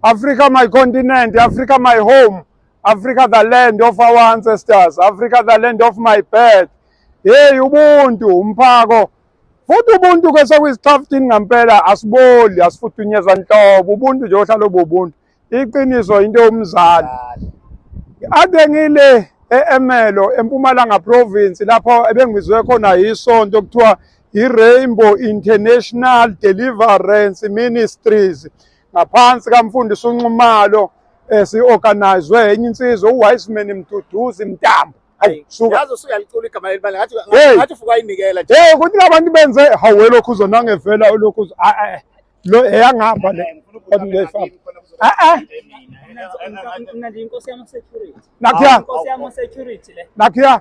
Africa my continent, Africa my home, Africa the land of our ancestors, Africa the land of my birth. Hey ubuntu umphako futhi ubuntu ke sekuyisixhaftini ngampela asiboli asifuthunyezwa nhlobo ubuntu nje ohlala obubuntu iqiniso into yomzali ade ngile e-Emelo eMpumalanga province lapho ebengibizwe khona yisonto kuthiwa I-Rainbow International Deliverance Ministries ngaphansi kamfundisi uNxumalo esi-organizwe eh, enye insizwa uWiseman Mduduzi Mtambo Hey, ukuthi labantu benze hawu welokhu uzonangevela ulokhu lo eyangihamba le kodwa nakhiya nakhiya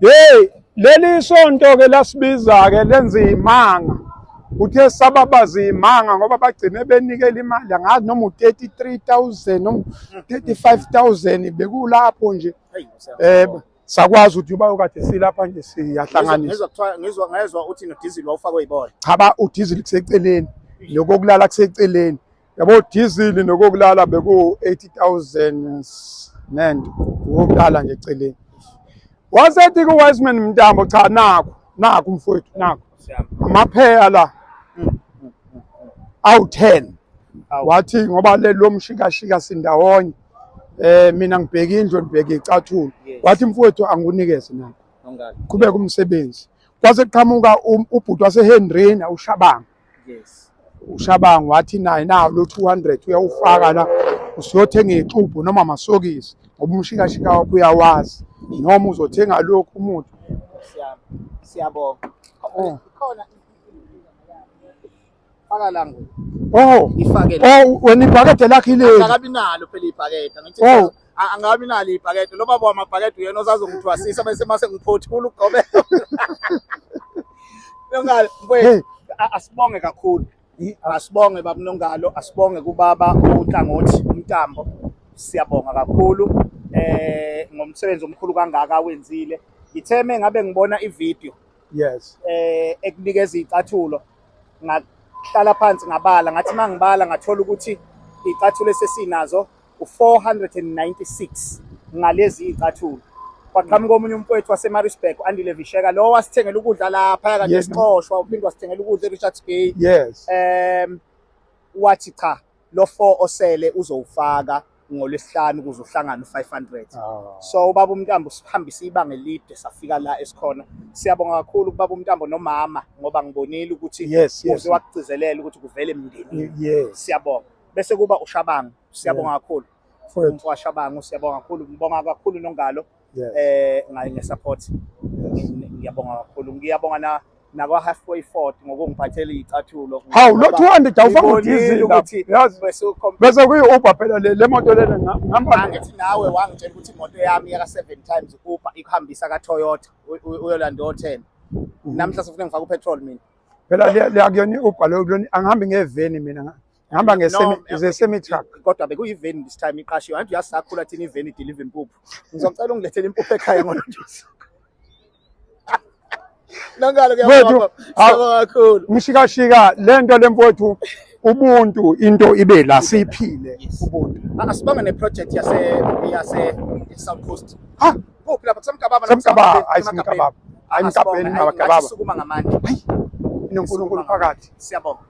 Hey, leli sonto ke lasibiza ke lenza imanga. Uthe sababaza imanga ngoba bagcine benikela imali angazi noma u33000 noma 35000 bekulapho nje. Eh sakwazi ukuthi uba ukade silapha nje siyahlanganisa. Ngizwa kuthiwa ngizwa ngezwa uthi no diesel wawufakwe ibona. Cha ba u diesel kuseceleni. Lokho kulala kuseceleni. yabo diesel nokokulala beku-80000 nand wokulala nje eceleni wasethi ku-wiseman mntambo cha naku naku mfowethu naku amapheya la awu-ten wathi ngoba lelo mshikashika sindawonye eh mina ngibheke indlu ngibheke icathulo wathi mfowethu angunikeze na qhubeka umsebenzi kwase qhamuka um, ubhuti wasehendrina ushabanga yes ushabangu wathi naye nawo lo 200 uyawufaka la usiyothenga ixubhu noma masokisi ngoba umshikashika wakho uyawazi noma uzothenga lokhu umuthi siyabonga oh. khona faka la ngoku oh ifake la oh wena ibhakede lakhe ileli akabi nalo phela ibhakede ngithi oh angabi nalo ibhakede lo baba wamabhakede uyena osazongithwasisa bese mase ngiphothula ugobe nongalo mfowethu asibonge kakhulu asibonge baba nongalo asibonge kubaba unhlangothi umtambo siyabonga kakhulu eh ngomsebenzi omkhulu kangaka awenzile ngitheme ngabe ngibona ivideo yes eh ekunikeza icathulo ngahlala phansi ngabala ngathi mangibala ngathola ukuthi icathulo esesinazo u-496 ngalezi iy'cathulo kwaqhamuka omunye umfowethu wasemaritzburg andile visheka lowo wasithengela ukudla laphaya kade Yes. sixoshwa uphinde wasithengela ukudla erichards bay yes um wathi cha lo four osele uzowufaka ngolwesihlanu ukuze uhlangane u-500 Ah. so ubaba umntambo sihambise ibanga elide safika la esikhona siyabonga kakhulu kubaba umntambo nomama ngoba ngibonile ukuthi yes yes uze wakugcizelela ukuthi kuvele emndenini yes siyabonga bese kuba ushabangu siyabonga kakhulu mfowethu washabangu siyabonga kakhulu ngibonga kakhulu nongalo eh ngaye ngesupport ngiyabonga kakhulu ngiyabonga na nakwa halfway fort ngokungiphathela icathulo hawu lo 200 awufanga udizili ukuthi bese kuyi Uber phela le le moto lena ngihamba ngithi nawe wangitshela ukuthi imoto yami yaka 7 times Uber ikuhambisa ka Toyota uyolanda o 10 mhm. namhla sifuna ngifaka upetrol mina phela liyakuyona i-Uber leyo kulona angihambi ngeveni mina ngihamba nge-semi truck kodwa bekuyiveni this time iqashiwe anti uyasakhula thina iveni idelive impuphu ngizocela ungilethele impuphu ekhaya ngolothusa nangalo kuyabona kakhulu ngishikashika lento lemfowethu ubuntu into ibe la siphile ubuntu asibanga ne project yase yase South Coast ha kuphi lapha kusemgababa kusemgababa ayisemgababa ayimgabeni abagababa sukuma ngamandla hayi inonkulunkulu phakathi siyabonga